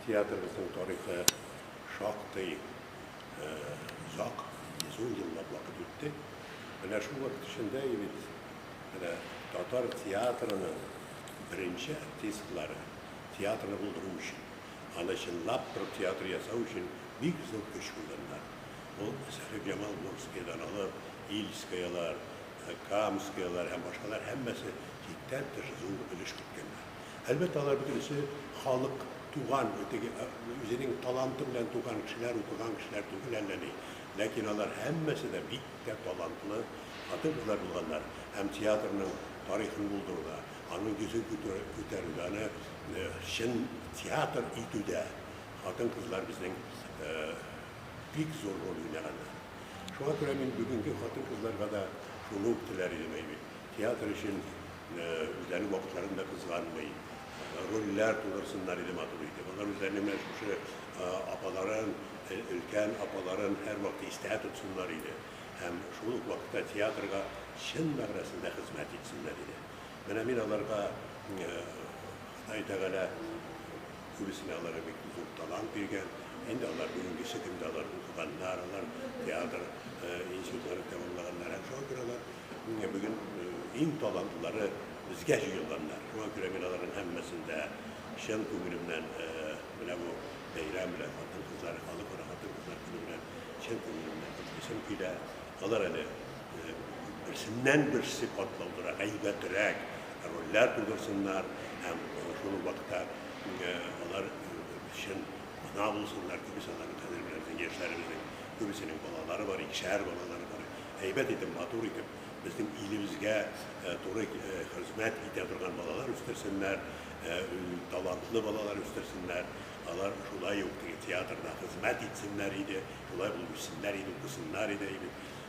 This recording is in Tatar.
Театрыбызның тарихы шактый озак, йөз ун еллап вакыт үтте. Менә шул вакыт эчендә и бит менә татар театрының беренче артистлары театрны булдыру өчен, аны чынлап торып театр ясау өчен бик зур көч куйганнар. Ул Сәхибҗамал Мурзкиядән алып, Ильскаялар, Камскиялар һәм башкалар һәммәсе чиктән тыш зур өлеш керткәннәр. Әлбәттә, алар бөтенесе халык, туган, теге, үзенең таланты белән туган кешеләр, укыган кешеләр түгел әллә ни. Ләкин алар һәммәсе дә бик тә талантлы хатын-кызлар булганнар һәм театрның тарихын булдыруда, аның йөзен күтәрүдә, аны чын театр итүдә хатын-кызлар безнең бик зур роль уйнаганнар. Шуңа күрә мин бүгенге хатын-кызларга да шуны ук теләр идем, әйбит, театр өчен, Үзләренең вакытларын да кызганмый, рольләр тудырсыннар иде, матур итеп. Алар үзләренең менә шушы апаларын, өлкән апаларын һәрвакыт истә тотсыннар иде һәм шул ук вакытта театрга чын мәгънәсендә хезмәт итсеннәр иде. Менә мин аларга Ходай Тәгалә Күбесенә Аллага бик зур талант биргән. Инде алар бүгенгесе көндә алар укыганнар, алар театр институтларын тәмамлаганнар һәм шуңа күрә алар бүген иң талантлылары безгә җыелганнар. Шуңа күрә мин аларның һәммәсен дә чын күңелемнән менә бу бәйрәм белән, хатын-кызлар, Халыкара хатын-кызлар көне белән чын күңелемнән котлыйсым килә. Алар әле Берсеннән-берсе катлаулырак, әйбәтрәк рольләр булдырсыннар һәм шул ук вакытта алар чын Ана булсыннар, күбесе аларның хәзер безнең яшьләребезнең күбесенең балалары бар, икешәр балалары бар. Әйбәт итеп, матур итеп, безнең илебезгә туры хезмәт итә торган балалар үстерсеннәр, талантлы балалар үстерсеннәр. Алар шулай ук теге театрда хезмәт итсеннәр иде, шулай булып үссеннәр иде, укысыннар иде, әйбәт.